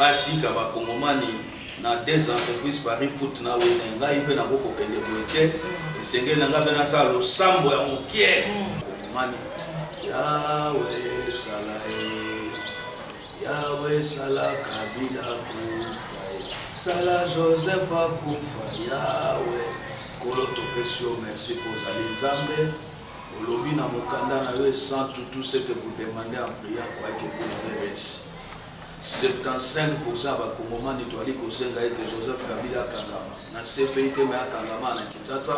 batika bakongomani na des entreprises paris foot na wene ngai mpe nakoki kokende boye te esengeli na ngai mpe nasala losambo ya mokie kongomani yawe esala ye yawe esala kabila kufa ye sala joseph akufa yawe kolo topesi yo merci mpo ozali nzambe olobi na mokanda na yo esantu tout ce que vous demandez en prière croyez que vous l'avez reçu 75 pourcent ya bakongomani toali kosenga ete joseph kabila akangama na cpi te me akangama na kinshasa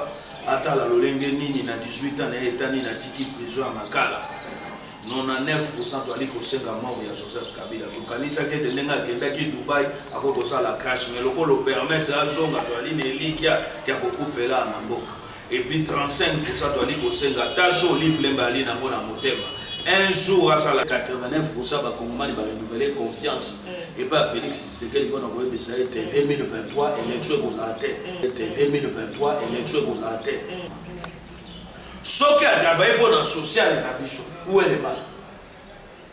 atala lolenge nini na 18 ans na ye etani na tiki prison ya makala 99 pourcent toali kosenga mort ya joseph kabila tokanisaki ete ndenge akendaki dubai akoki kosala crash me lokola opermetre azonga toali na elikya ya kokufela na mboka Et puis 35 pour ça toali kosenga ta so olive lemba ali na ngo na motema un jour asala 89 pour ça bakongomani barenouveler confiance mm. epa félix tshisekedi mpona koyebisa ete 2023 élection ekozala te mm. ete 2023 élection ekozala te mm. soki atravaille mpo na sociale na biso uelema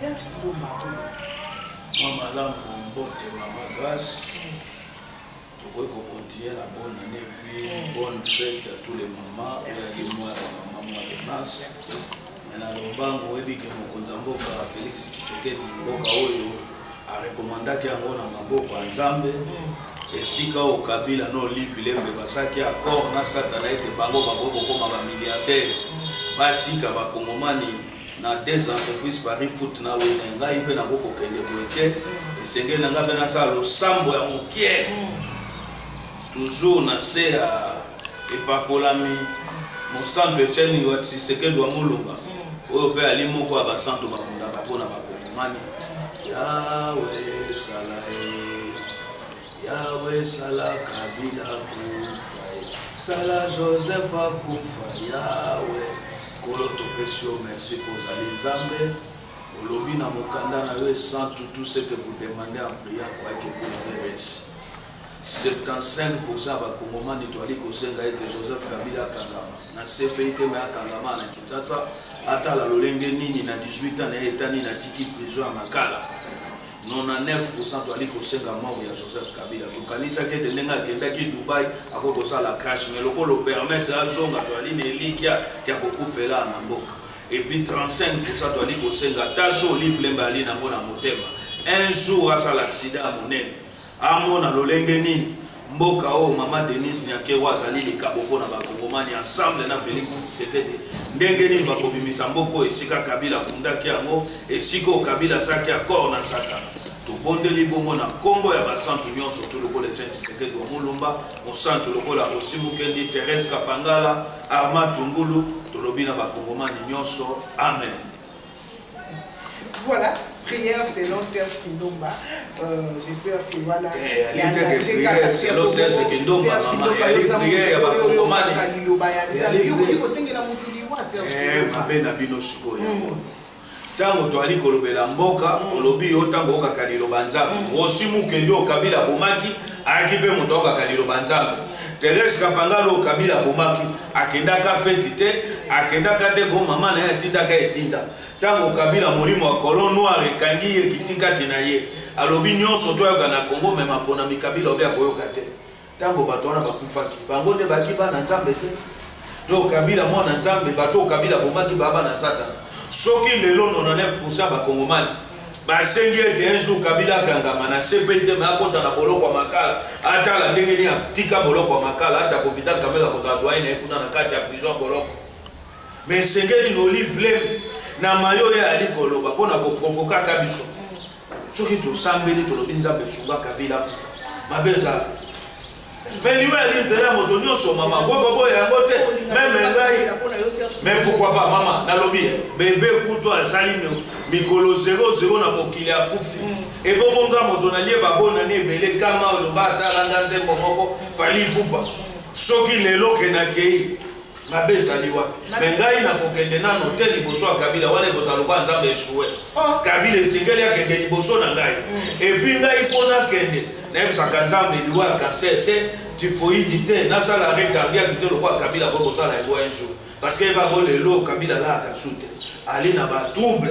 Serge Kibomba. Mwa malamu mbote mama Grace. Tokoki kokontinue na bonne année puis mm. bonne fête à tous les mamans oyaki mwa ya mama mwa de mars me na lombango oyebi ke mokonzi ya mboka Félix Tshisekedi mboka oyo arekomandaki yango na maboko ya Nzambe mm. esika oyo Kabila na Olive Lembe basaki accord na Satana ete bango bakoki kokoma ba milliardaire mm. batika bakongomani na deux entreprises paris foot na wene ngai mpe nako kokende boye te esengeli na ngai mpe nasala losambo ya mokie toujours na se ya epakolami mosantu etienne wa tshisekedi wa molonga oyo mpe ali moko ya basantu babundaka mpo na bakongomani yawe esala ye Yahweh sala kabila kufa ye sala joseph akufa Yahweh kolo topesi yo merci mpo ozali nzambe olobi na mokanda na yo esantu tout ce que vous demandez en prière croyez que vous l'avez reçu 75 pourcent ya bakongomani toali kosenga ete joseph kabila akangama na cpi te me akangama na kinshasa atala lolenge nini na 18 ans na ye etani na tiki prison ya makala 99 pourcent toali kosenga mort ya joseph kabila tokanisaki ete ndenge akendaki dubai akoki kosala crash mai lokola opermettre azonga toali na elikya ya kokufela na mboka epuis 35 pourcent toali kosenga ata so olive lembe ali nango na motema un jour asala aksida ya monene Amona lolenge nini mboka oyo mama Denise Nyakewa azali likabo mpo na bakongomani ensemble na Felix Tshisekedi ndenge nini bakobimisa mboka oyo esika Kabila akundaki yango esika oyo Kabila asaki accord na Satana tobondeli bongo na nkombo ya basantu nyonso tu lokola Etienne Tshisekedi wa Mulumba mosantu lokola Rosi Mukendi Therese Kapangala Arma Tungulu tolobi na bakongomani nyonso amen Voilà, prière selon Serge Kindomba. Euh, J'espère que voilà. Eh, elle était que prière selon Serge Kindomba, maman. Elle est prière, elle va comprendre. Elle est prière. Eh, ma belle, la bino sikoyo. Hmm. ntango toali kolobela mboka mm. olobi yo ntango okaka liloba nzambe mm. osi mokende oyo kabila abomaki ayaki mpe moto akaka liloba nzambe mm. terese kapangalo oyo kabila abomaki akendaka feti te akendaka te ko mama na ye atindaka etinda ntango kabila molimo ya colon noir ekangi ye kitikati na ye alobi nyonso to ayoka na congo me maponami kabila obi akoyoka te ntango bato wana bakufaki bango nde baki bana nzambe te to kabila mwana nzambe bato kabila bomaki baba na satana soki lelo 99 bakongomani basengi ete un jour kabila akangama na cpt me akota na boloko ya makala atala ndenge nini atika boloko ya makala ata kovital kamela kozala doyen na ye kuna na kati ya prison ya boloko me esengeli na olive lem na mayo oyo ayali koloba mpo na koprovokaka biso soki tosambeli tolobi nzambe sunga kabila mabe ezala Mais yo ya nzela ya moto nyonso mama boko boya yango te meme ngai mais pourquoi pas mama nalobi ye bebe kutu azali mikolo 00 na mokili akufi mm. ebongo nga moto nalie babonani ebele kama oloba atalanga nzembo moko fali pupa soki lelo ke nakei mabe ezali wapi me ngai nakokende nano te liboso ya kabila wana ekozala lokola nzambe esue oh. kabila esengeli akende liboso na ngai mm. epui ngai mpo nakende nayebisaka nzambe liwa ya kanser te tifoidi te nasala rekardiaki te lokola kabila ko kosala yango un jour parce que ebango lelo kabila alaka su te ali na batrouble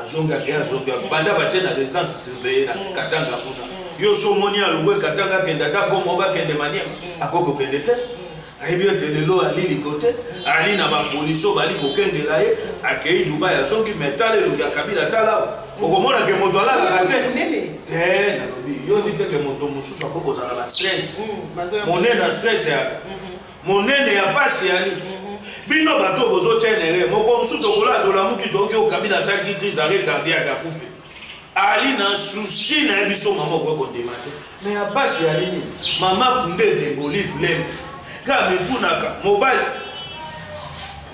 azongi ake azongi banda batie na residence surveille na mm. katanga kuna mm. yo so omoni alongwe katanga akende ata bongo bakende maniema mm. akoki kokende te ayebi ete lelo ali likote ali na bapolisi oyo bali kokengela ye akei dubai azongi me tala elongi ya kabila talawa okomona ke moto alalaka te te nalobi yo ndi te ke moto mosusu akoki kozala na stress monene na stress yaka monene ya pasi yani mhm. bino bato bozotia nere moko mosusu tokolaa tolamuki toyoki oyo kabila atiaki crise arre cardiaque akufi ali na susi na ye biso mama okoki kondima te me ya pasi ya nini mama kundende bolive leme ka mitunaka mobali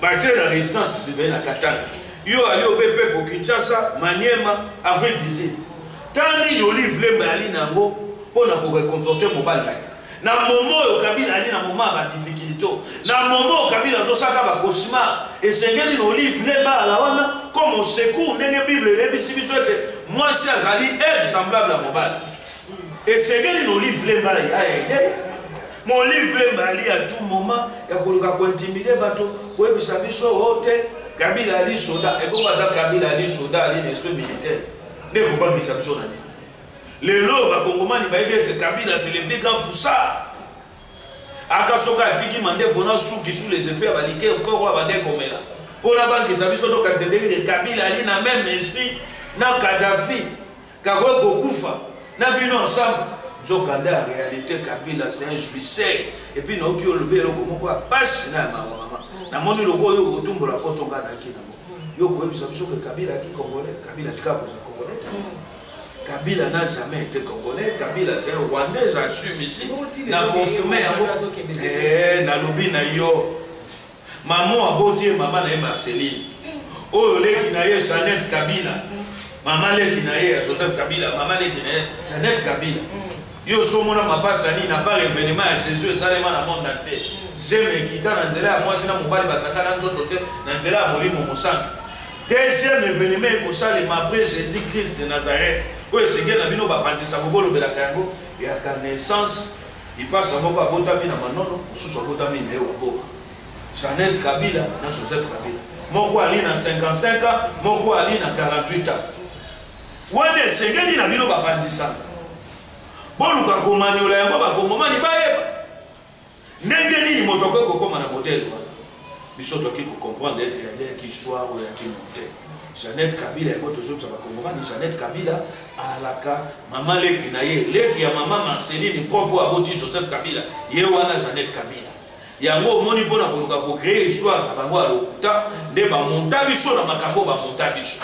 batie na résidence sivele na katanga yo ali obe pepo kinshasa maniema avril 18 ta nini olive leme ali na yango mpo na koreconforte mobali na ye Na moment oyo Kabila ali na moment ya ba difficulto, na moment oyo Kabila azosaka ba cauchemar, esengeli na Olive Lemba ala wana comme au secours ndenge Bible eyebisi biso ete mwasi azali aide semblable ya mobali. Esengeli na Olive Lemba aide mais Olive Lemba ali à tout moment ya koluka kointimide bato koyebisa biso o te Kabila ali soda, ebongo ata Kabila ali soda ali na esprit militaire nde kobangisa biso na nini? Lelo oyo bakongomani bayebi ete Kabila c'est le grand foussard. Aka soki atiki mandefu na suki sous les effets ya balike fort oyo abandaki komela mpo nabangisa biso tokanisa ndenge te Kabila ali na même esprit na Kadhafi kakoki kokufa na bino ensemble nzokande ya réalité Kabila c'est un jouisseur epuis naoki olobi eloko moko ya pasi na ya mawa mama namoni loko oyo okotumbola kotonga naki nango yo koyebisa biso ke Kabila aki congolais Kabila tika kozala congolais te Kabila n'a jamais été congolais, Kabila c'est un rwandais, j'assume ici. Na confirmé yango. Eh, na lobi na yo. Maman aboti maman na Marceline. Oyo leki na ye Jeannette Kabila. Maman leki na ye Joseph Kabila, maman leki na ye Jeannette Kabila. Mm. Yo somona mapasa nini na par événement ya Jésus esalema na monde entier. Mm. Zeme ekita na nzela ya mwasi na mobali basakana nzoto te na nzela ya Molimo Mosantu. Deuxième evenement ekosalema après Jésus Christ de Nazareth oyo esengeli na bino bapanzisa kobolobelaka yango yaka naissance ipasa moko abotami na manono mosusu abotami na ye wa boka Jeannette Kabila na Joseph Kabila moko ali na 55 ans moko ali na 48 ans wana esengeli na bino bapanzisaka boluka komanyola yango bakongomani bayeba Ndenge nini moto akoki kokoma na modele wana? Biso toki kokomprendre ete aleki soir oyo yaki monte. Jeannette Kabila yango tozobisa bakongomani, Jeannette Kabila alaka mama leki na ye, leki ya mama Marceline propre aboti Joseph Kabila, ye wana Jeannette Kabila. Yango omoni mpo na koluka kocree histoire na bango ya lokuta, nde bamonta biso na makambo bamonta biso.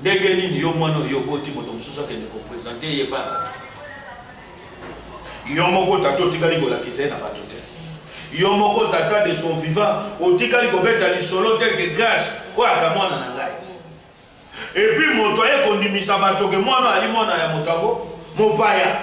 Ndenge nini yo mwana oyo oboti moto mosusu akende kopresente ye ba bato? Yo moko tata otikali kolakisa ye na bato te. Yo moko tata de son vivant otikali kobeta lisolo te ke Grace oyo aka mwana na ngai. Epuis moto aye kondimisa bato ke mwana ali mwana ya moto yango mopaya.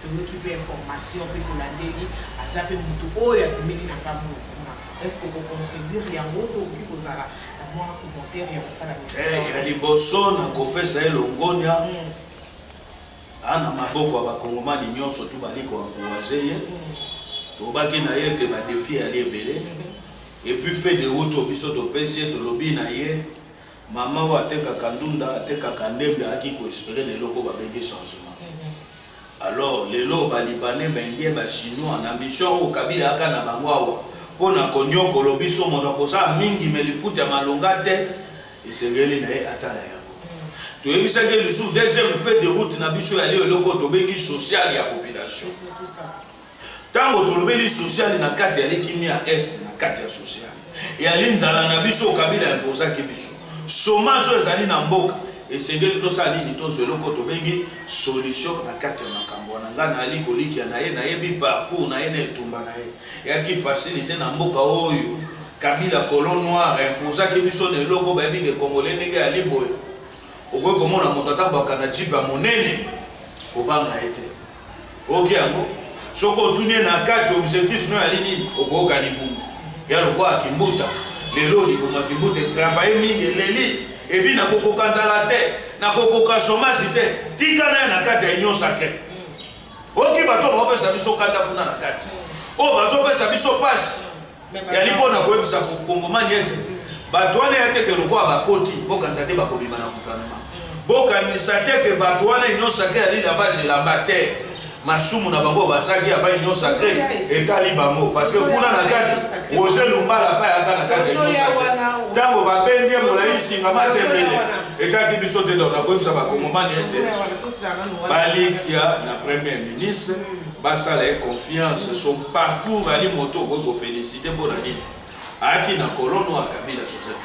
toyoki pe information pe tolandeli aza pe mutu oyo abimeli na ngambo lokuma est-ce que kocontredire yango to okoki kozala na mwa commentaire ya kosala ya liboso na kopesa ye longonia hmm. ana maboko ya bakongomani nyonso tu bali koankouraze ye tobaki hmm. na ye ete badefi yali ebele hmm. epuis fede uto biso topesi ye tolobi na ye Maman oyo atekaka ndunda, atekaka ndembi, ayaki ko esperer na eloko ba bengi changement. Alors lelo ba libanais, ba indiens, ba chinois na mission oyo Kabila ayaka na bango awa mpo na koniokolo biso, moto akosala mingi mais lifuta ya malonga te, esengeli na ye atala yango. toyebisaki ye lisusu deuxième fait de route na biso ya lio eloko tobengi social ya population Tango tolobeli sociale na kati ya likimi ya Est na kati ya sociale. Eyali nzala na biso Kabila impozaki biso. Chômage oyo ezali na mboka esengeli tosala nini tozwa eloko tobengi solution na kati ya makambo wana ngai nayali kolikia na ye nayebi parcours na ye na etumba na ye eyaki facilité na mboka oyo kabila colo noir impozaki biso na eloko bayebi de congolais ndenge yali boye okoki komona moto atambwaka na jipe ya monene kobanga ye te oke yango soki otuni ye na kati objectif no yali nini okoyoka libumu ya lokola kimbuta lelo libuma kimbuta etravaille mingi eleli ebi nakokoka nzala te nakokoka somasi te tika naye na kati ya union sacre oki bato baopesa biso kanda kuna na kati oyo bazopesa biso mpasi yali mpo na koyebisa mokongomani ete bato wana ya teke lokola bakoti bokanisa te bakobima na guvernema bokanisa te ke bato wana union sacre yali lavage elamba te masumu na bango basaki ya ba union sacre etali bango parce que kuna na kati roger lumbala apa yaka na kati ya union sacre ntango babendi molai singa matembele etaki biso te donc nakoyebisa bakongomani ete balikia na premier ministre basala ye confiance so parcours ali moto okoki kofélicité mpo na nini ayaki na kolon oyo akabila joseph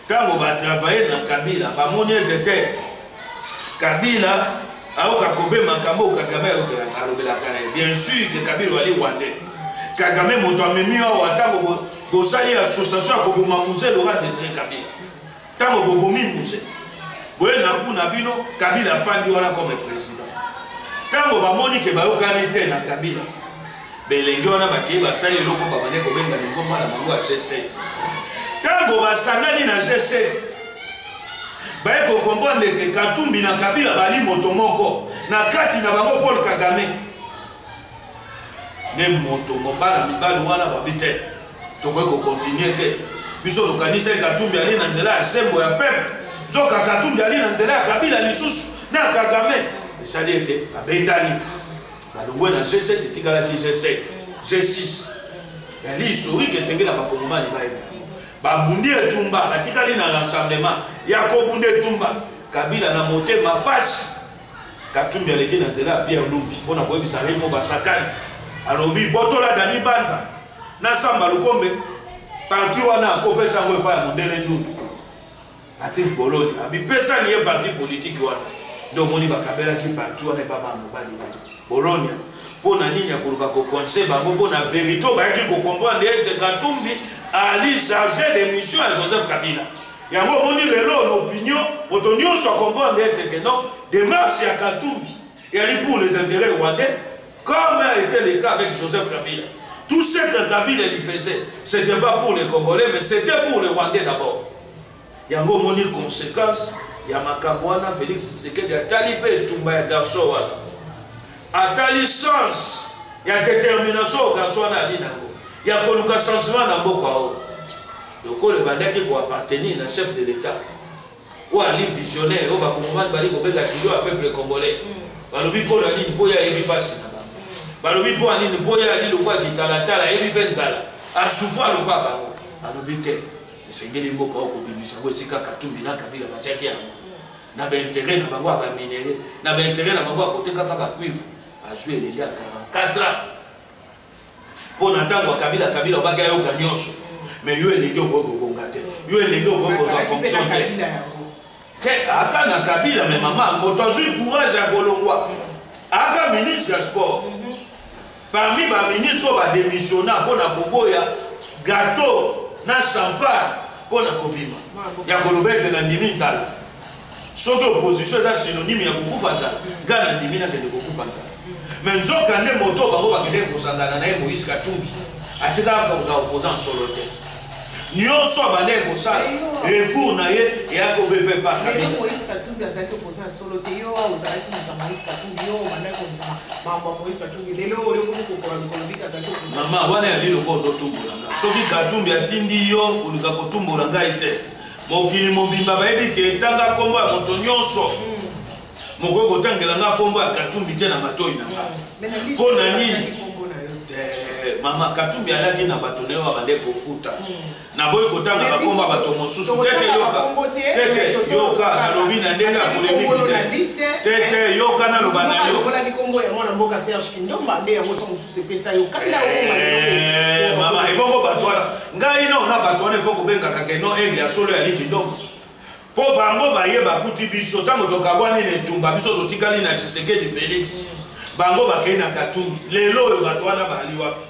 ntango batravaille na kabila bamoni ete te kabila ayoka kobe makambo oyo kagame alobelaka ye bien sûr ke kabila ali rwande kagame moto amemi awa ntango bosali association ya koboma muze loka desire kabila Tango bobomi muse. Boye na gout na bino Kabila afandi wana comme président. Tango bamoni ke bayokani te na Kabila. Belenge wana bakei basali eloko babande kobenga lingomba na bango ya G7. Tango basangani na G7 baye kokomprendre ke Katumbi na Kabila bali moto moko na kati na bango Paul Kagame. Ne moto mobala mibali wana babi te. tokoki kokontinue te biso tokanisa ye katumbi ali na nzela ya sembo ya peuple nzoka katumbi ali na nzela ya kabila lisusu na kagame esali ete babendani balongwe na g7 etikalaki g7 g6 yali historique esengeli na bakongomani bayebi babundi etumba batikali na rassemblement ya kobunda etumba kabila na motema mpasi katumbi aleki na nzela ya pierre lumbi mpo na koyebisa remo basakani alobi botola dani banza na samba lukombe parti wana akopesa yango epai ya mondele ndundu parti boloni abipesani ye parti politiki wana nde omoni bakabelaki parti wana epa bango mobali wana bolonia mpo na nini akoluka kokoinse bango mpo na verité oyo bayaki kokomprendre ete katumbi ali charge de mission ya joseph kabila yango omoni lelo na opinion moto nyonso akomprendre ete ke non demarche ya katumbi eyali pour les intérêts rwandais Comme a été le cas avec Joseph Kabila. Tout ce que Kabila lui faisait, c'était pas pour les Congolais, mais c'était pour les Rwandais d'abord. Yango moni conséquence ya makambo wana Félix Tshisekedi atali mpe etumba ya garçon wana. Atali sens ya détermination oyo garçon wana ali nango ya koluka changement na mboka oyo. Lokola ebandaki koappartenir na chef de l'État. oyo ali visionnaire oyo bakongomani bali kobenga kilo ya peuple congolais mm. balobi mpo na nini mpo ye ayebi mpasi na bango balobi mpo ya nini mpo ye ali lokwa kitalatala ayebi mpe nzala asouvoir lokwa bango alobi te esengeli mboka oyo kobimisa yango esika katumbi na kabila batiaki yango na baintere na bango ya baminere na baintere na bango ya kotekaka bacuivre azwi eleli ya 44 ans mpo na ntango ya kabila kabila obaki ayoka nyonso mais yo elenge okoki kobonga te yo elenge okoki kozwa fonction te te aka na kabila me mama yango tozwi courage ya kolongwa aka ministre ya sport mhm. parmi baministre oyo bademissionna mpo na koboya gato na champagne mpo na kobima ya koloba ete nandimi nzala soki opposition eza synonyme ya kokufa nzala ngai nandimi nakende kokufa nzala me nzoka nde moto bango bakendeki kosangana na ye moïse katumbi atikala kozala opoza nsolo te nyonso abandaki kosala recours na ye eyaki obepe pakabila mama wana ya liloko ozotumbola nga soki katumbi atindi yo koluka kotumbola ngai te Mokili mobimba bayebi ke tanga kombo ya moto nyonso. Mm. Mokoki kotangela nga kombo ya Katumbi te na matoyi na nga. Mm. Mpo na nini? Eh, mama katumbi alaki na bato na yo abande kofuta hmm. naboyi kotanga bakombo ya bato mosusu tete yoka tete yoka nalobi na ndenge ya polemiki te tete eh. yoka naloba na yo sepesa yo kati na okoma eh, mama ebongo bato wana ngai no na bato wana efo kobengaka ke no aigle ya solo ya likidomo mpo bango baye bakuti biso ntango tokabwani na etumba biso totikali na tshisekedi félix bango bakei na katumbi lelo oyo bato wana bali wapi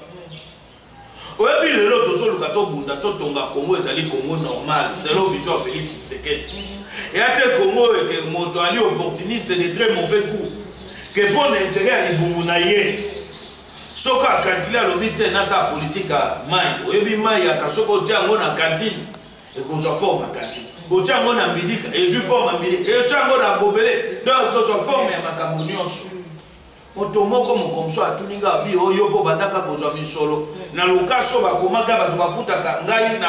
Oyebi lelo tozoluka tobunda totonga Congo ezali Congo normal selon vision ya Felix Tshisekedi. Eya te Congo eke moto ali opportuniste de très mauvais goût ke mpo na intérêt ya libumu na ye soki akalkile alobi te nasala politike ya mai oyebi mai yaka soki otya yango na kantine ekozwa forme ya kantine otya yango na mbidika ezwi forme ya mbidika otya yango na gobele donc ekozwa forme ya makambo nyonso Moto moko mokomso atuni nga abi oyo oh, mpo bandaka kozwa misolo mm. na lokaso bakomaka bato bafutaka ngai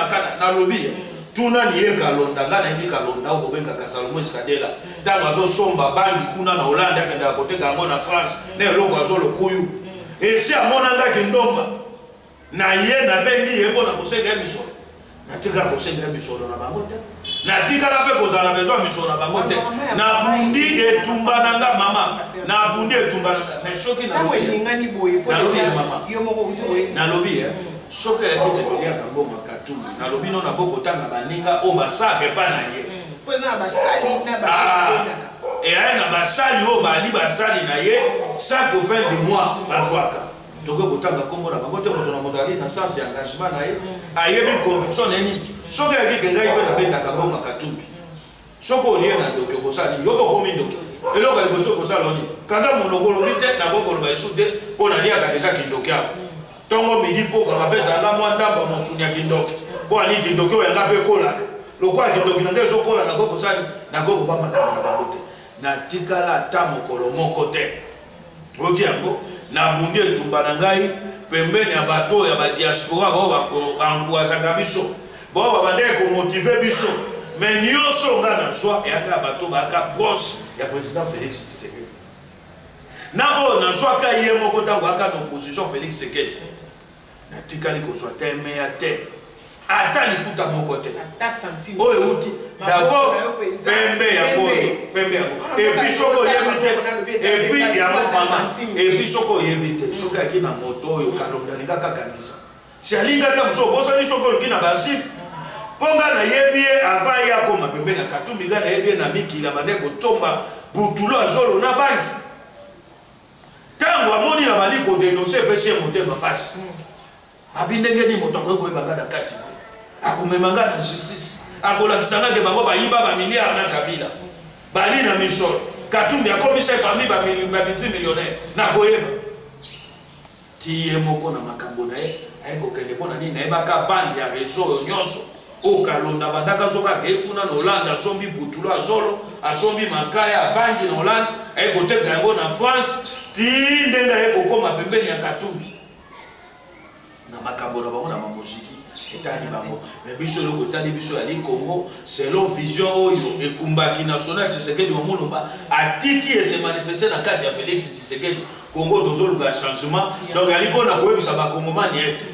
nalobi mm. tuna niye kalonda ngai nayebi kalonda oyo bobengaka salomo eskadela mm. ntango azosomba bangi kuna na hollande akendaka koteka yango na france na eloko azolokuyu esi amona nga kindomba Na ye nabengi ye mpo na kosenga ye misolo. Natikala kosenga ye misolo na bango te. Natikala mpe kozala na besoin ya misolo na bango te. Nabundi etumba na nga mama. Nabundi etumba na nga. Mais soki nalobi ye mama. Nalobi ye. Soki ayaki te toliaka mbongo ya katumbi. Nalobi no na bokotanga baninga oyo basaka epai na ye. Mpo eza na basali na baninga. eya na basali oyo bali basali na ye chaque fin du mois bazwaka tokoki kotanga nkombo na bango te moto na moto ali na sens ya engagement na ye mm. ayebi conviction na ye nini soki ayaki ke ngai mpe nabendaka ngoma katumbi soki olie na ndoki okosala nini yoko okomi ndoki te eloko ya liboso okosala oni kanda monoko olobi te nakoki koloba esu te mpo naliaka deja kindoki awa ntongo mm. midi mpoka bapesa nga mwa ndamba mosuni ya kindoki mpo alii kindoki oyo yanga mpe ekolaka lokola kindoki na ngai ezokola nakoki kosala nakoki koba makambo na bango te natikala ata mokolo moko te oyoki yango nabundi etumba na ngai pembeni ya bato oyo ya badiaspora bao bankuazaka biso bao babandaki komotive biso me nyonso ngai nazwa eyaka ya bato bayaka proche ya président félix tshisekedi na oyo nazwaka ye moko ntango ayaka na opposition félix sekedi natikali kozwa temeya te ata likuta moko te oyo euti dabord pembe yango pembe yango epuis soki oyebi te epuis yango mama epuis soki oyebi te soki ayaki na moto oyo kalonda alinga kakangisa si alinga te mosusu obosani soki oluki na basif mpo nga nayebi ye avant ye akoma pembe na katumbi nga nayebi ye na mikila bande kotomba butulo azolo na bangi Tango amoni na bali ko denoncer epesi ye motema pasi. Abi ndenge nini moto akoki koyeba nga na kati boye? Akomema nga na justice. Akolakisa nga ke bango bayiba ba milliards na Kabila. Bali na mission. Katumbi akomisa ye parmi ba multimillionnaires. Nakoyeba. Ti ye moko na makambo na ye aye kokende mpo na nini? Nayebaka bande ya rezo oyo nyonso oyo Kalonda abandaka azoka akei kuna na Hollande, asombi butulo ya zolo, asombi makaya, abangi na Hollande, aye koteka yango na France ti ndenge aye kokoma pembeni ya Katumbi na makambo na bango na bamoziki etali bango me biso eloko etali biso yali congo selon vision oyo ekumbaki national tshisekedi wa mulumba atiki ese manifeste na kati ya félix tshisekedi Congo tozoluka changement donc ali mpo na koyebisa bakongomani ete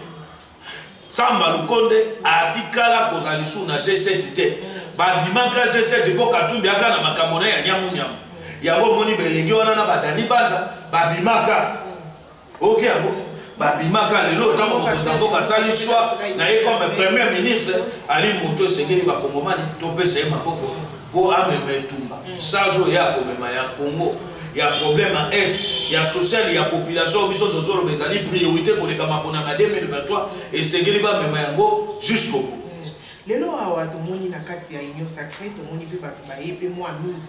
samba lukonde atikala kozala lisusu na g7 te babimaka g7 mpo katumbi aka na makambo na ya nyamunyamu yango omoni belenge wana na badani banza babimaka oyoki yango babimaka lelo ntango mokonzi na mboka asali shwa na ye comme premier ministre ali moto esengeli bakongomani topesa ye maboko mpo amema etumba mm. sazo ya komema ya congo ya problème ya est ya social ya population biso tozoloba ezali priorité koleka maponama 2023 esengeli bamema yango jusqu'au bout mm. lelo awa tomoni na kati ya union sacré tomoni mpe bato baye mpe mwa mingi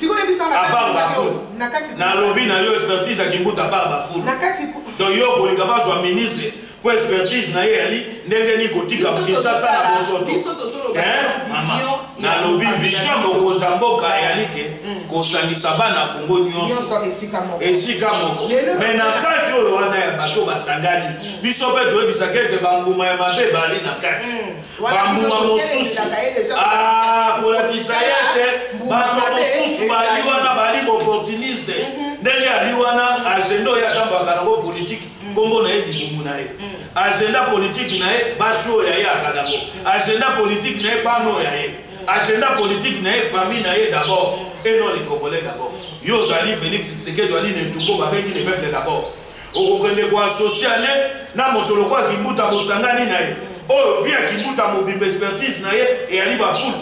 sikoyo yebisa nga apart bafulu na kati na lobi na yo expertise ya kimbuta apart bafulu na kati donc yo okolinga bazwa ministre po expertise na ye yali ndenge nini kotika kinshasa na bosoto nalobi vision mokonzi ya mboka eyali ke mm. kosangisa bana kongo nyonso esika moko me na kati oyo wana ya bato basangani mm. biso mpe toyebisaka ete banguma ya mabe bali na kati mm. bambuma mosusu ah, kolakisa ye ete bato mosusu bali wana bali opportuniste mhm. ndenge ali wana agenda oyo atambaka nango politiki mhm. nkombo na ye libumu na ye mhm. agenda politiki na ye basi oyo ya ye akanango agenda politiki na ye bana oyo ya ye agenda politiki na ye famille na ye d'abord et non les congolais d'abord yo ozali félix tshisekedi ali netuko babengi le peuple d'abord okokende ko associe ne na moto lokola kimbuta bosangani na ye oyo vi ya kimbuta mobimba expertise na ye eyali bafulu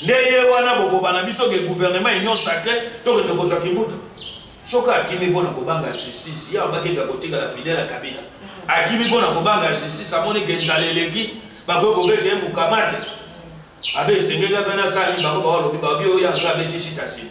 nde ye wana bokobana biso ke gouvernement union sacre tokende kozwa kimbuta soki akimi mpo na kobanga justice ye abakende akotikala fidele ya kabila akimi mpo na kobanga justice amoni ke nzala eleki bakoki kobeta ye mokamate abe esengeli mpe nasali bango baolobi babi oyo yango abetisi tasima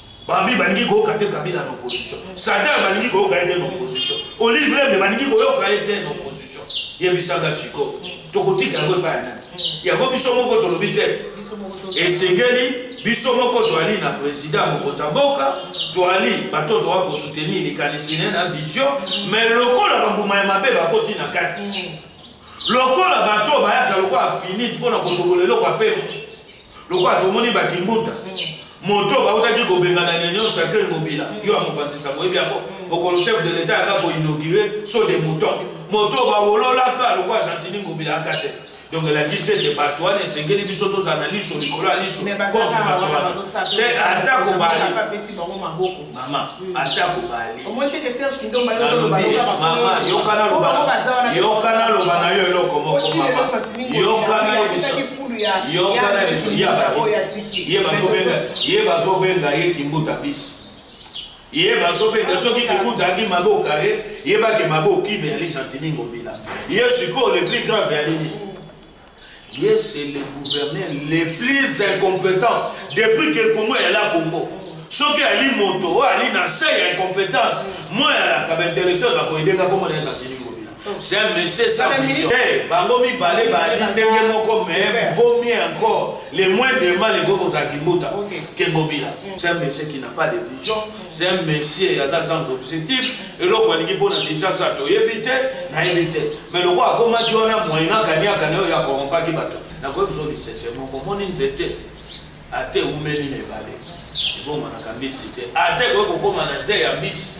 Babi balingi koyoka te Kabila na opposition. Satan balingi koyoka ye te na opposition. Olive Lembe balingi koyoka ye te na opposition. Yebisanga siko. Tokotika yango epai ya nani? Yango biso moko tolobi te. Esengeli biso moko toali na president mokonzi ya mboka, toali bato toa kosoutenir likanisi ne na vision, mais lokola bambuma ya mabe bakoti na kati. Lokola bato oyo bayaka lokola finite mpo na kotobola eloko ya mpema, lokola tomoni bakimbuta moto bautaki kobengana na nyonso ya ken mobila yo ya mopanzisa boyebi yango mokolo chef de l'etat yaka koinaugure so de mouton moto bawololaka lokola gentini mobila yaka te donc elakisi ete bato wana esengeli biso tozala na liso likolo ya liso contre bato wana te atako bali mama atako bali omoni teke serge kindomba yo ozoloba loka bakoma yokana loba yokana loba na yo eloko moko mama yokana yebisaki fulu ya yokana biso ya bakisi ye bazobenga ye bazobenga ye kimbuta bisi ye bazobenga soki kimbuta aki mabe okare ye bake mabe okime ya lisantiningo bila ye sikoyo le plus grave ya nini Ye c'est le gouverneur le plus incompetent depuis que Congo est là Congo. soki ali moto oyo ali na se ya incompétence moi alaka baintellectuel bakoyedeka koma na ezatini ngobila c'est un monsieur sans vision eh, bango mibale bali ndenge moko mais vaut mieux encore le moins de mal ekoki kozala kimbuta ke ngobila c'est un monsieur qui n'a pas de vision c'est un monsieur aza sans objectif eloko alingi mpo na kinshasa toyebi te nayebi te mais lokola akomaki wana moyen akaniaka na oyo akorompaki bato nakoki biso lisese moko omoni nzete ate eumeli na ebale ebongwanaka mbisi te ate ekoki kokóma na se ya mbisi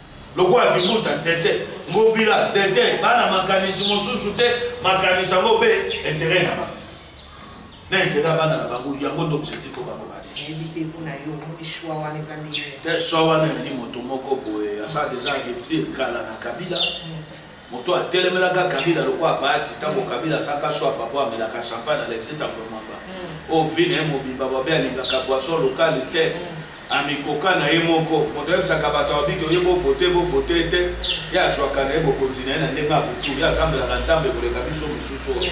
lokola bibuta nzete ngobila nzete bana makanisi mosusu te makanisi yango mpe intere na bango na intere ya bana na bango yango nde objectif o bango te swa wana ezali moto moko boye asala deja reptile kala na kabila mm. Moto atelemelaka Kabila lokola Bahati tango Kabila asaka swa papa amelaka champagne Alexis Tambwe Mwamba. Mm. Oyo vie na ye mobimba babe alingaka boisson locale te. Mm. Amikoka na ye moko. Moto ayebisaka bato ya biki oye bovote bovote te. Ye azwaka na ye bokonzi na ye na ndenge ya butu. Ye asambelaka Nzambe koleka biso mosusu oyo.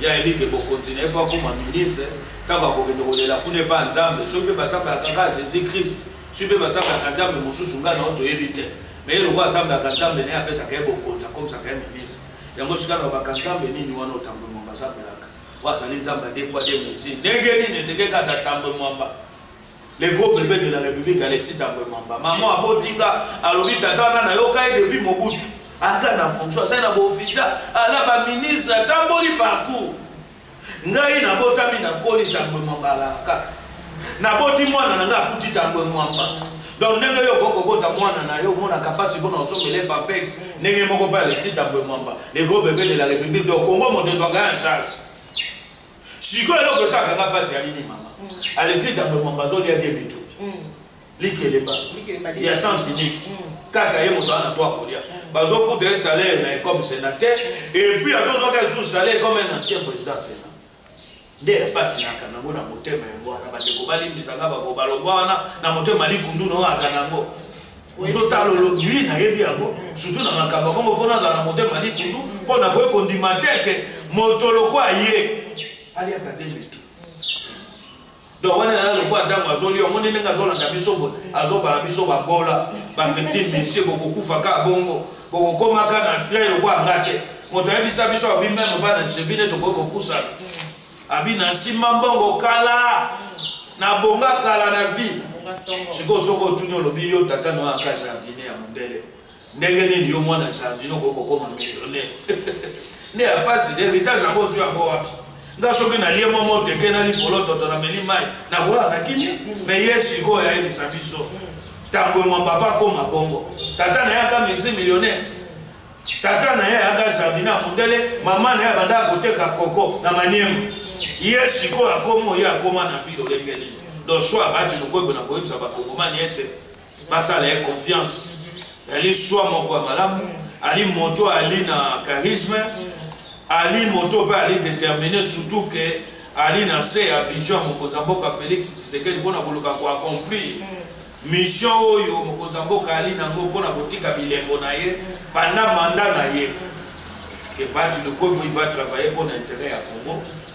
Ye ayebi ke bokonzi na ye mpo akoma ministre ntango akokende kolela kuna epa Nzambe. Soki mpe basambelaka kaka Jesus Christ, soki mpe basambelaka Nzambe mosusu ngai na yo toyebi te. me ye lokola nzambe aka nzambe naye apesaka ye bokonzi akomisaka ye ministre yango sika na baka nzambe nini wana otambwe mwamba azambelaka oyo azali nzambe adekwa de mesi ndenge nini ezekeka ata tambwe mwamba le gros bebe de la république alexis tambwe mwamba mama abotinga alobi tata wana nayoka ye depuis mobutu aka na fonction azali na bofita ala baministre atamboli parcours Ngai nabotami na koli tambwe mabala kaka. Naboti mwana na ngai akuti tambwe mwamba. Donc ndenge yo okoki kobota mwana na yo omonaka mpasi mpona osomele papex ndenge moko mpe alexi tambwe mwamba le gros bebe de la république donc kongo moto ezwaka ya charge sikoyo eloko esalaka nga mpasi ya nini mama alexi tambwe mwamba azolia de bitu likelemba ya sens unique mm. kaka ye moto ana to akolia mm. bazokuta ye salaire na ye comme sénateur mm. et puis azozwaka lisusu salaire comme un ancien président sénat nde ya mpasi naka nango na motema yango wana bandeko balimbisanga bango balongwa wana na motema likundu noyaka nango ozotala olobili nayebi yango surtout na makambo yango mofo nazala na motema likundu mpo nakoki kondima teke moto lokwa ye aliaka te mitu donc wana eza lokola ntango azoli yango nde ndenge azolanda biso boye azobala biso bakola bapetit messie bokokufa kaka bongo bokokoma kaka na train lokola nga te moto ayebisa biso abi meme bana chevi nde tokoki kopusana abi na nsima mbongo kala nabonga kala na vie sikoyo soki otuni olobi yo tata noyo akasi ya dine ya mondele ndenge nini yo mwana ya sardine okoki kokoma millionnaire nde ya mpasi nde heritage yango ozwi yango wapi nga soki nalie mwa moteke na likolo toto nameli mai nakola na kimia me ye sikoyo ayebisa biso ntango emwamba pa akoma bongo tata na ye aka mixi millionnaire tata na ye ayaka sardine ya mondele mama na ye abandaka koteka koko na maniema ye sikoyo akoma oye akoma na vile olenge nini donc so abati lokoybo na koyebisa bakongomani ete basala ye confiance ali swa moko ya malamu ali moto ali na charisme ali moto mpe ali détermine surtout ke ali na se ya vision ya mokonzi ya mboka félix tshisekedi mpo na koluka koaccomplir mission oyo mokonzi ya mboka ali nango mpo na kotika bilembo na ye banda manda na ye ke bati lokomi va travailler mpo na intérêt ya congo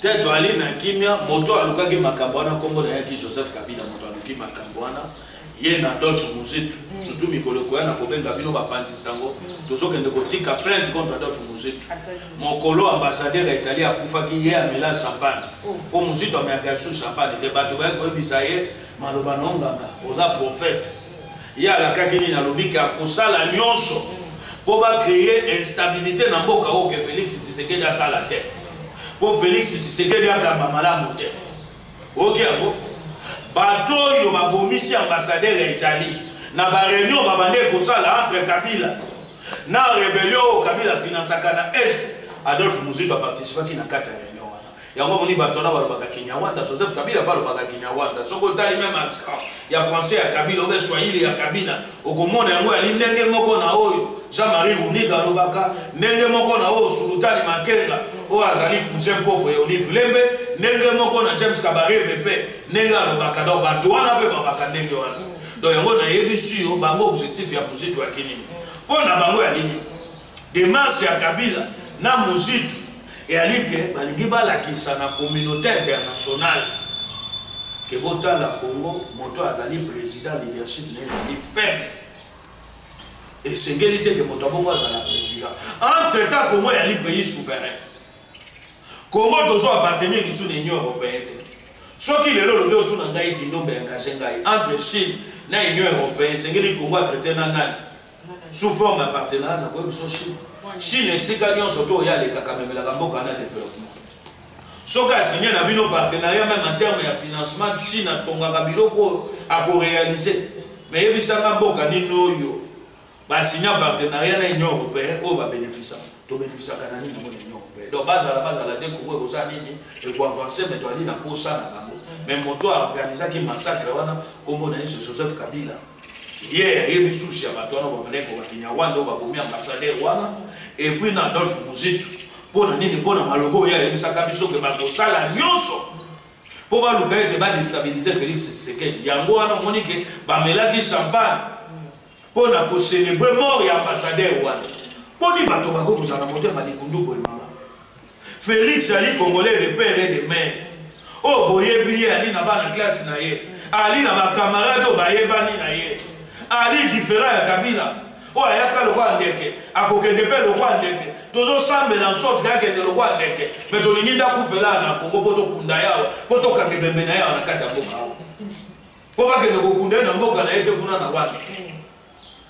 te toali na kimia moto alukaki makambo wana nkombo na yaki joseph kabila moto aluki makambo wana ye na adolphe muzitu mm. surtout mikolo ekoya na kobenga bino bapanzi sango mm. tozokende kotika plainte contre adolphe muzitu mokolo ambassadeur ya italie akufaki ye amela champagne oh. mpo muzitu ameyaka lisusu champagne te bato bayaki koyebisa ye maloba na onganga oza prophète Ye alakaki nini? Alobi ke akosala nyonso mpo ba creer instabilite na mboka oyo ke Felix Tshisekedi asala te, mpo Felix Tshisekedi akamba malamu te. Oyoki yango? Bato oyo babomisi ambassadeur ya Italie na ba reunion babandaki kosala entre Kabila na rebellion oyo Kabila afinansaka na Est, Adolphe Muzito aparticipaki na kati ya reunion. yango omoni bato wana balobaka kinyarwanda joseph kabila mpe alobaka kinyarwanda soki otali meme accent ya français ya kabila obe swahili ya kabila okomona yango yali ndenge moko na oyo jean marie runika alobaka ndenge moko na oyo sulutani makenga oyo azali cousin mpoko ya olive lembe ndenge moko na james kabarebe mpe ndenge alobaka donc bato wana mpe babaka ndenge wana donc yango nayebisi yo bango objectif ya muziki ya kinini mpo na bango ya nini Demarche ya Kabila na Muzitu eyali ke balingi balakisa na communauté internationale ke botala Congo moto azali président leadership na ezali faible esengeli te ke moto abongo azala président entre temps Congo eyali pays souverain Congo tozwa appartenir lisusu na Union européenne te soki lelo olobi otuna ngai kindombe engage ngai entre chine na union européenne esengeli kongo atraite na nani sous forme ya partenariat na koyebi so chine chine esika nyonso to oya alekaka amemelaka mboka na développement soki asigne na bino partenariat meme en terme ya financement chine atongaka biloko oyo akorealize me yebisanga mboka nini oyo basigna partenariat na union européen oyo babénéfisa tobénéfisaka na nini yango na union européen donc bazala bazala te kongo ekozala nini ekoavance me toali na posa na bango me moto aorganisaki massacre wana nkombo na yesu joseph kabila ye ayebi susi ya bato wana bamaneko bakinyarwanda oyo babomi ambasadere wana epuis na adolphe muzitu mpo na nini mpo na maloba oyo ayebisaka biso ke bakosala nyonso mpo baluka ete badestabilize félix tshisekedi yango wana omoni ke bamelaki champagne mpo na kocelebre mort ya ambasadere wana boni bato bakoki kozala na motema likundu boye Felix ali congolais de père et de mère. Oh boyebi ye ali na bana classe na ye. Ali na ba camarades oyo bayebani na ye. Ali différent ya Kabila. Oyo ayaka lokola ndeke, akokende mpe lokola ndeke. tozosambela nsorte kaka kende lokwa ndeke me tolingi ndakufela na kongo mpo tokunda ye awa mpo tokanga ebembe na ye awa na kati ya mboka awa mpo bakende kokunda ye na mboka na ye te kuna na wana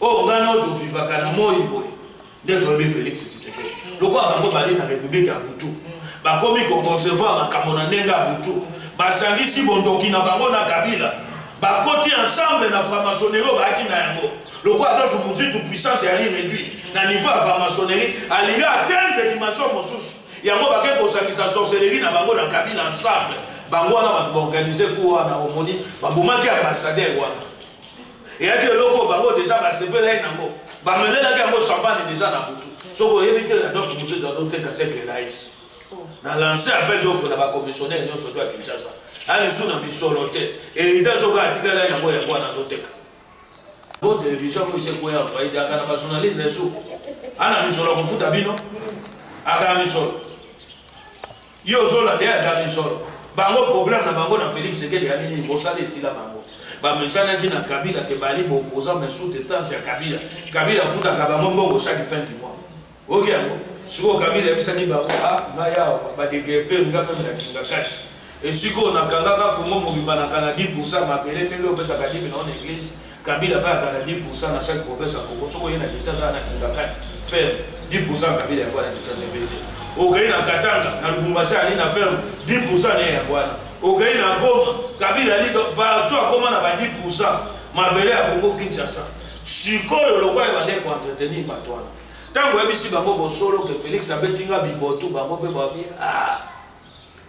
Oh nga no to vivaka na moi boy. Nde vraiment Felix Tshisekedi. Lokola bango bali na République ya Butu. Bakomi ko concevoir makambo na ndenge ya Butu. Basangisi bondoki na bango na Kabila. Bakoti ensemble na franc-maçonnerie oyo bayaki na yango. Lokola Adolphe Muzitu puissance yali réduit na niveau ya franc-maçonnerie alingi atteindre dimension mosusu. Yango bakei kosangisa sorcellerie na bango na Kabila ensemble. Bango wana bato baorganize kuwa na omoni babomaki ambassadeur wana. eyaki eloko oyo bango deja basepelaki nango bamelelaki yango champagne deja na butu soki oyebi te na donc mosusu azoteka sekle laisi oh. na lance appel d'offre na bacommissionnaire nyonso to ya kinshasa na lisu na misolo te heritage oka atikala yango yango wana azoteka bo television yango esekoya faide aka na bajournaliste esu ana misolo akofuta bino aka na misolo Yo ozola nde aza misolo. Bango problème na bango na Felix Sekedi ya nini bosala esila bango. Bamesanaki na Kabila ke bali bopoza mais sous traitance ya Kabila. Kabila afutaka bango mbongo chaque fin du mois. Oki yango. Sikoyo Kabila yebisaki bango ah ngai awa badegepe nga meme na Kingakati. Esikoyo nakangaka Kongo mobimba na kana 10% mabele ndenge opesaka dimi na on église Kabila ba kana 10% na chaque province ya Congo soko yena kicha za na kinga kati ferme 10% Kabila ya bwana kicha se bese okai na Katanga na Lubumbashi ali na ferme 10% ne ya bwana okai na Goma Kabila ali ba tu akoma na ba 10% mabele ya Congo Kinshasa sikoyo lokola ebande ko entretenir bato wana ntango oyebisi bango bosolo ke Felix abeti nga bibotu bango mpe babi ah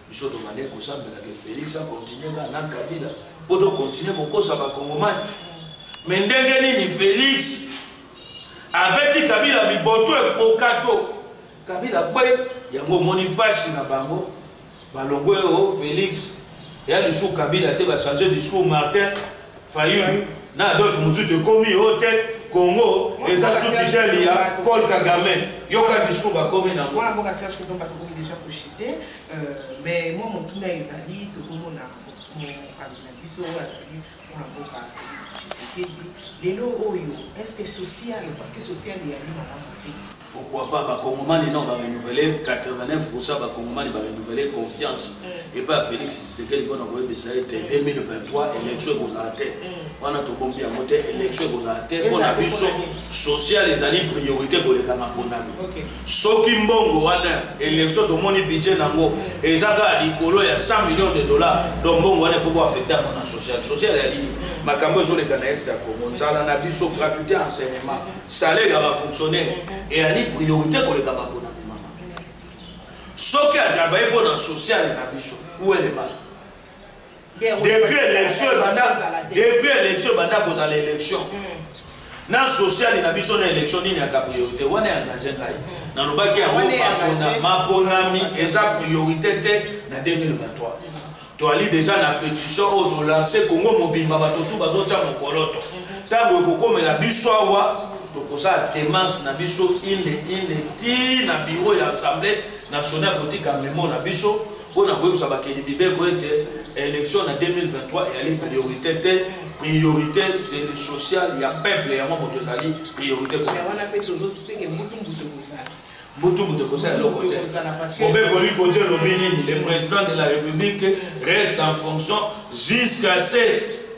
biso tobandaki kosambela ke félix akontinue kaka na kabila mpo tokontinue kokosa bakongomani me ndenge nini félix abeti kabila biboto ekokato kabila kwe yango omoni mpasi na bango balongwe o oh, félix ya lisusu kabila te bachange discours martin Fayulu na Adolphe Muzutu ekomi yo te Congo eza sous tutelle ya Paul Kagame yoka discours bakomi na mwana mboka Serge Kitomba tokomi déjà koshite euh, mais mwa motuna ezali tokomona mokambi na biso oyo azali mwana mboka Félix Tshisekedi lelo oyo est-ce que social parce que social eyali malamu te pourquoi pas ba congomani non ba renouveler 89% ba congomani ba renouveler confiance mm. et pas Felix Tshisekedi pona ko yebisa ete 2023 mm. élection ekozala te mm. wana tobombi yango te élection ekozala te pona biso social ezali priorité koleka na ponami soki mbongo wana élection tomoni budget nango eza kaka likolo ya 100 millions de dollars donc mbongo wana efo koaffecte yango na social social ya nini makambo ezoleka na est ya congo nzala na biso gratuité enseignement salaire ya bafonctionnaire eyali priorité koleka maponami mama soki atravaille mpo na sociale na biso ueleba depuis élection ebanda depuis élection ebanda kozala élection mm. na sociale na biso na élection nini yaka priorité wana ya engage ngai mm. nalobaki yango maponami eza priorité te na 2023 toali deja na petition oyo tolanse kongo mobimba bato tu bazotya mokoloto ntango mhm. ekokomela biso awa tokozala temance na biso inde inde ti na biro ya assemblée nationale kotika memo na biso mpo na koyebisa bakeli mibeko ete élection na 2023 eyali priorité te priorité c'est le social ya peuple yango moto ezali priorité butu moto ekosala eloko te obe koli koti olobi nini le président de la république reste en fonction jusqu'à ce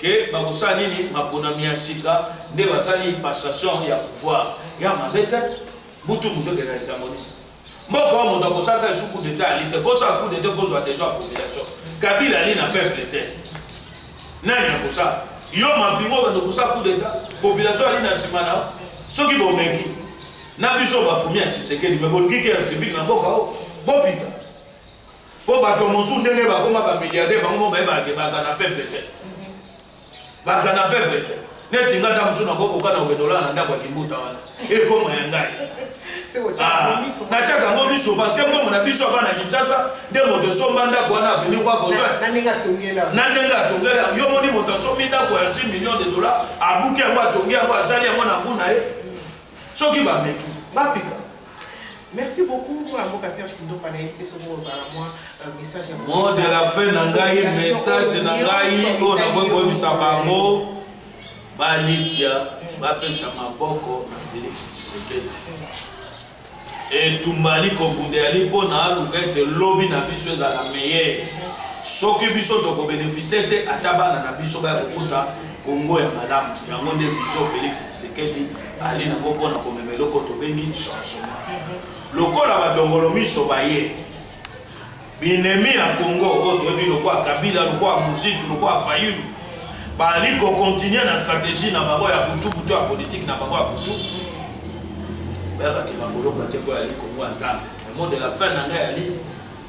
ke bakosala nini maponami ya sika nde basali passation ya pouvoir ya mabe te butu moto ekenda likambo nini mboka wa moto akosalaka esu coup d'état ali te kosala coup d'état kozwa déjà population kabila ali na peuple te Nani akosala? Yo mampinga obanda kosala coup d'etat, population ali na nsima na soki bomeki na biso bafumi ya Tshisekedi me bolingi ke ya civile na mboka o bopika mpo bato mosusu ndenge bakoma bamiliardaire bango mo bayebanake bakana peple te bakana peple te neti nga ntango mosusu nakoki kokana kokende olala na ndako ya kimbuta wana ekoma ya ngai ah, natiaka yango miso parce que mbongo na biso abana kinshasa nde moto esomba ndako wana aveni kwa botoin na ndenge atongela yo moni moto asombi ndako ya 6 million de dollar abuki yango atongi yango asali yango na ngu na ye soki bameki bapika Merci beaucoup mwana mboka Serge Kindopa na yete soki ozala mwa euh, message ya mot de la fin na ngai message na ngai oyo nakoki koyebisa bango balikia mm. bapesa maboko na Felix Tshisekedi etumba ali kobunda yali mpo na aluka ete lobi na biso ezala meyeye soki biso tokobenefisie te ata bana na biso baya kokuta kongo ya malamu yango nde vision Felix Tshisekedi bali na ngo mpona komema eloko tobengi changement lokola badongolo miso baye binemi ya congo oyo toyebi lokola kabila lokola muzitu lokola fayulu bali kokontinue na stratégie na bango ya butubutu ya politike na bango ya butu bayabakema kolomba te mpo yali kongo ya nzambe le mot de la fin na ngai yali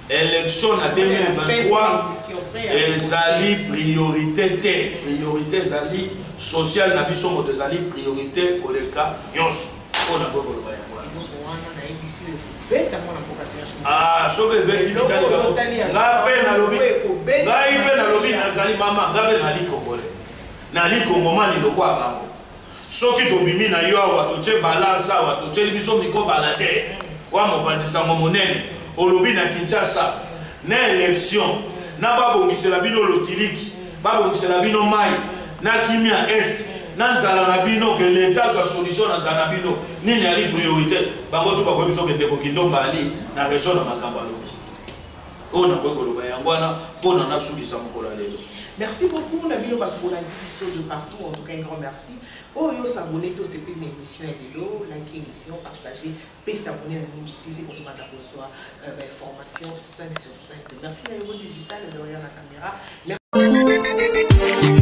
Election na 2023 ezali priorite te. Priorite ezali social na biso moto ezali priorite koleka nyonso. Mpo na boye koloba yango ah, soki ebeti bitali bango ngai mpe nalobi ngai mpe nalobi nazali mama ngai mpe nali kongole nali kongomani lokola bango soki tobimi na yo awa totie balance awa totieli biso miko bala te wa mopanzi sango monene olobi na kinshasa na election na babongisela bino lotiliki babongisela bino mai na kimia est na nzala na bino ke leta azwa solution na nzala na bino nini ali priorité bango tu bakoyebi so kendeko kindo mbali na région na makambo alobi oyo nakoki koloba yango wana mpo na nasulisa mokolo ya lelo merci beaucoup na bino bato bolandi biso de partout en tout cas un grand merci oyo osabone te osepeli na émission ya lelo like émission partage mpe sabone na mingi tv kokomata kozwa euh, bainformation 5 sur 5 merci na yango digital derrière la caméra